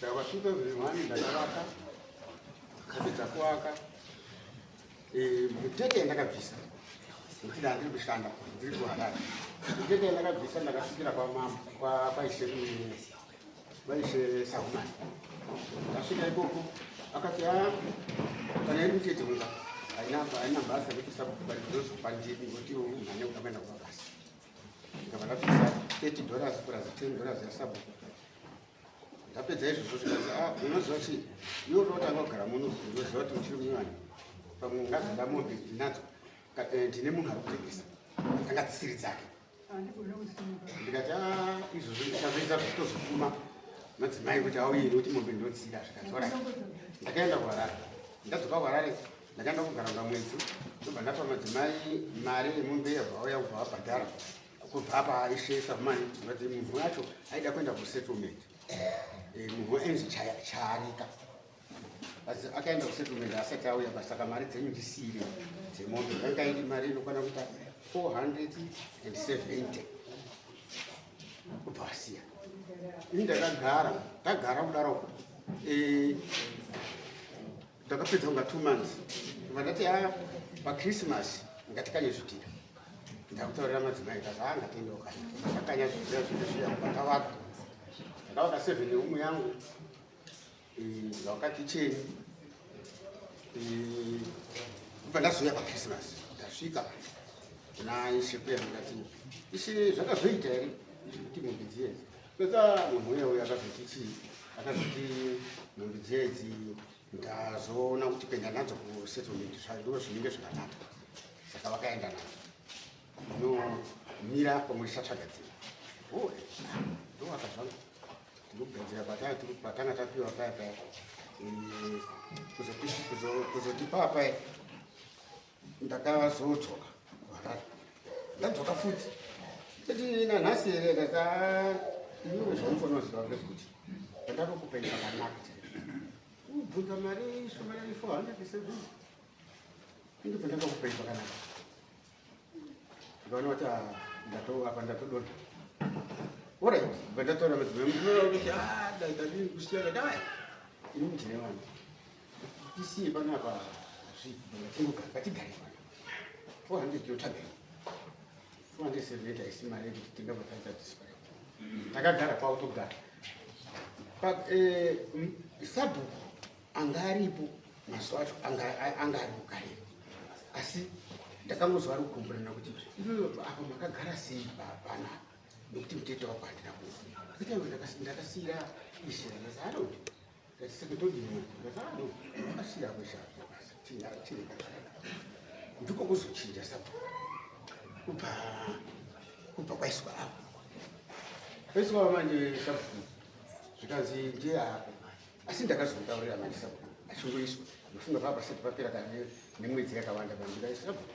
Saka pa 2001 ndakavaka ndakapedza kuvaka eh, mutete yandakabvisa nekuti ndandiri kushanda ndiri kuharara mutete yandakabvisa ndakasvikira kwamama kwaishe vaishe sahumani ndasvika ikoko akati a ah, kana iri mutete unga haina basa rekusakubarizozopandiri ngoti umhane ukamaenda kumabasa ndikabva ndapisa 30 dollars plus 10 dollars yasabhuku ndapedza izvozvo zvikanzi ah, unoziva chii iwe unotanga kugara muno unoziva kuti muchiri munyanya pamwe ungazada mombe ndinadzo eh, ndine munhu ari kutengesa anga dzisiri dzake ndikati ah, izvozvo ndichazoita zvitozokuma madzimai kuti auye nekuti mombe ndinotsida zvikazora ndakaenda kuharare ndadzoka kuharare ndakaenda kugara kunga mwedzi ndobva ndapa madzimai mari yemombe yabva auya kubva vabhadhara kubva apa aisesa mani vati munhu wacho aida kuenda kusettlement eh, munhu waenzi charika asi akaenda kusettlement asati auya pasaka mari dzenyu ndisiire dzemoto yanga iri mari inokwana kuita 470 kubva asiya ini ndakagara ndagara kudaro eh, Ndakapedza kunga two months vandati ha ah, pachristmas ngatikanye zvidhira ndakutaurira madzimai kazi ha ah, ngatiende ukanya ndakakanya zvidhira zvedu zviya vakavaka ndakavaka seven yeumwe yangu ndakavaka kicheni kubva ndazouya pachristmas ndasvika kuna ishe kuya ndikati ishe zvakazoita here kuti mumbidzienzi Peta munhu uye uye akazoti chii akazoti nhumbi dzedzi ndazoona kuti kuenda nadzo kusettlement zvandiwo zvinenge zvakanaka saka vakaenda nadzo inomira pamwe ndichatsvaga dzimwe oh, eh, ndowaka zvangu ndikugadzira patanga tapiwa paya paya eh, kuzoti papa ndakazodzoka kuharare ndadzoka futi teti nanhasi here ndati iwe zvaunofana ziva ngezvekuti ndakatokupenga pakanaka kubvunza mari shomanani four hundred seven ende pandakakupenga pakanaka ndikaona kuti ndatoapa ndatodona orit bva ndatora madzimai mdinoa kuti a daitadii kusiyana dai ini mudine vanhu Tisiye panapa zvidotenga ngatigare pano. 400 yotaga. 478 isima yedu tinga patadza display. Takagara kwa utogara. Pa eh sabu angaripo mazuva acho anga ari kugare. Asi ndakangoziva rukumbirana kuti iyoyo apa makagara sei bana nekuti mutete wako handina kufa. Kuita ndakasira isira. Ndakasira. ndiko kuzochinja saka kubva kubva kwaiswa apo kwaiswa manje sabhuku zvikanzi ndiye apo asi ndakazotaurira manje sabhuku achingoiswa ndofunga pava pasati papera kane nemwedzi yakawanda pandikaisabhuku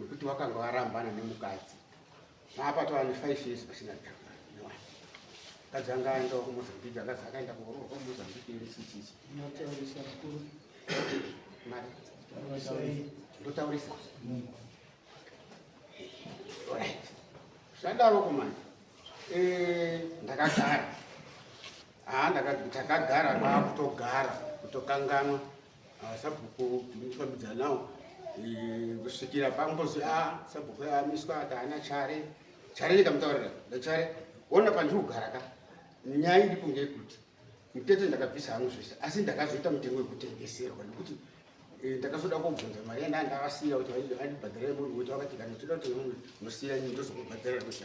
wekuti wakanga warambana nemukadzi maapa tava nefive years pasina danga iwani mukadzi anga aendawo kumozambique akazi akaenda kuoroorwa kumozambique iri chichichi mari ndotaurisa right zvadaro kumani eh, ndakagara haa ah, takagara kwakutogara kutokanganwa Ah, sabhuku ndikufambidza nawo eh, kusvikira pangozi a ah, sabhuku amiswa ati ana chare chare ndikamutaurira ndachare ona pandiri kugara ka nyaya iripo ngeyekuti mutete ndakabvisa hangu zvese asi ndakazoita mutengo wekutengeserwa nekuti eh, ndakazoda kubvunza mari yanda ndavasiya kuti andibhadhara yemunhu wekuti vakati kana uchida kuti unosiya nyi ndozokubhadhara kuti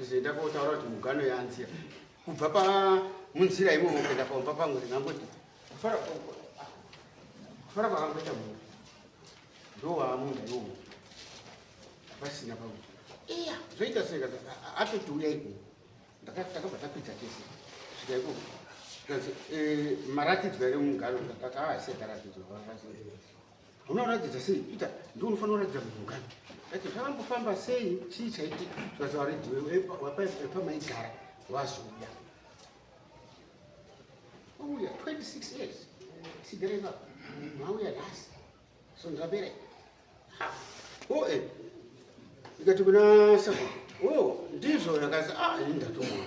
Zenda kotaura kuti mugano yanzira kubva pa munzira imomo kuenda paumba pangu ndingangoti kufara kufara kwakangoita munhu ndowaamunhu iwomo pasina pakuti iya zvoita seka atoti uya iko takabva takwidza tese svika iko eh, maratidzwa ere mugano ndakati aasiya taratidzwa unoratidza sei peter ndi unofanira kuratidza mungani ati zvakambofamba sei chii chaitika zvazavaridwepamaigara wazoda wauya 26 years sidereva mauya nhasi so ndabere o e ikati kuna sa o ndizvo yakazi a ah, ini ndatomona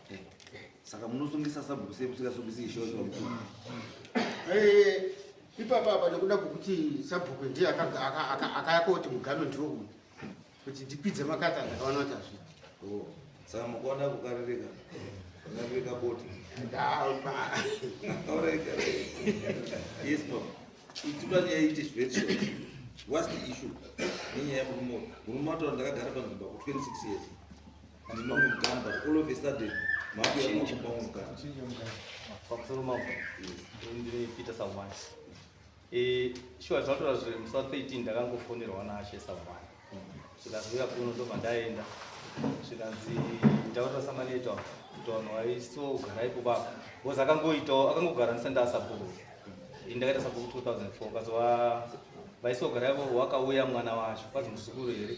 Saka munosungisa sabhuku sei musingasungisi ishosho mkuru? Eh, ipapa apa nekuda kwekuti sabhuku ndiye akayakoti mugano ndiwo uyu kuti ndipidze makata ndakaona kuti hazvi oh, saka mukuona kukaririka kukaririka boti yes no itula nyaya ite very short what's the issue nenyaya yemurume murume wataura ndakagara panzvimbo ku 26 years Eh, shuwa zvatoa zviri musa 13 ndakangofonerwa naashe savana zvikanzi uya kuno ndobva ndaenda zvikanzi ndaurira samaneto kuti vanhu vaiso ugarai kubaka bcause akangoitawo akangogara ndisandaa sabhuku ini ndakaita sabhuku 2004 kazova vaiso ugarai vo wakauya mwana wacho kwazi muzukuru here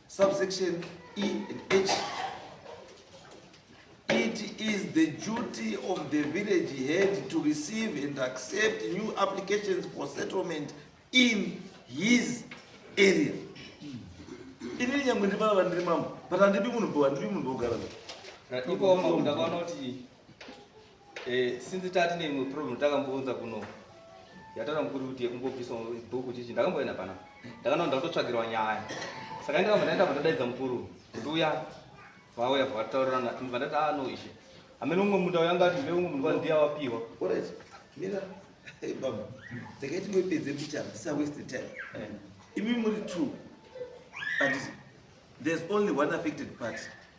Subsection E and H. It is the duty of the village head to receive and accept new applications for settlement in his area. Ini nyangwe ndi baba ndiri mambo, but andipi munhu bho, andipi munhu bogara. Iko mambo ndakaona kuti Eh, since tati neimwe problem takambounza kuno yatara mukuri kuti yekumbobvisa bhuku chichi ndakamboenda pana ndakanoa ndakutotsvagirwa nyaya saka ndikamba ndaenda pandadaidza mukuru nduya vauya vataurirana vandati a ah, no ishe amene umwe munda uyanga ati mbe umwe munda ndiya wapiwa mira baba ndakaiti ngoipedze mbichana sa waste time eh. imi muri true but there's only one affected party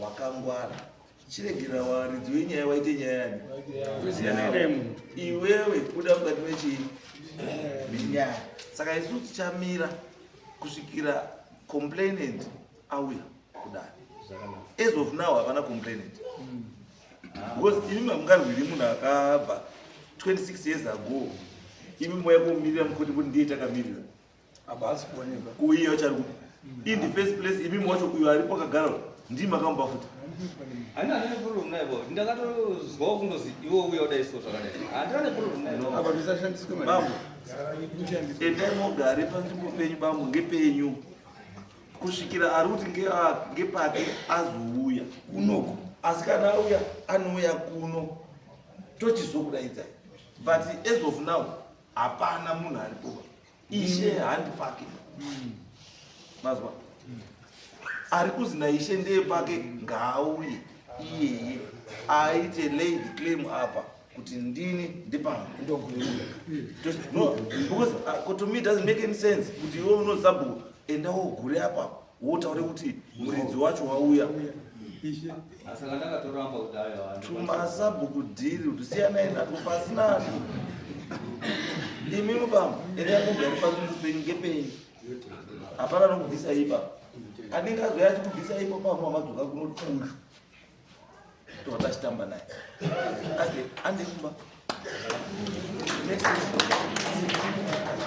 wakangwara chiregera waridzi wenyaya waite nyaya yani iwewe kuda mukati mechii minyaya saka isu tichamira kusvikira complainant auya kudai as of now havana complainant because imi mamungarwiri munhu akabva 26 years ago imi moya kumirira mukoti kuti ndiye takamirira apa haasi kuoneka kuiye vachari kupi in the first place imi mwacho uyo ari pakagara ndii makamupa futi Ani ane problem naye bo. Ndakatozwa kundozi iwe uye udai so zvakadai. Handina ne problem naye. apa zvisashandiswe mari bambo endai mogare panzvimbo penyu bambo ngepenyu kusvikira ari kuti ngea- ngepake azouya kunoko asi kana auya anouya kuno tochizokudaidzai but as of now hapana munhu aripo ishe handi pake mm. mazwa mm. ari kuzi naishe ndeye pake ngaauye iyeye aite lay the claim apa kuti ndini ndipangu ndokuuya no because uh, to me doesn't make any sense kuti iwe unozabhuku enda wogure apapo wotaure kuti muridzi wacho wauya tumasabhuku dhiri kuti siyanai nato pasina imi mubama ere yakugari papenyu ngepenyu hapana nokubvisa ipa anenge azoya achikubvisa ipo pamwe amadzoka kunoti uyu towata achitamba naye ake andekumba Thank you.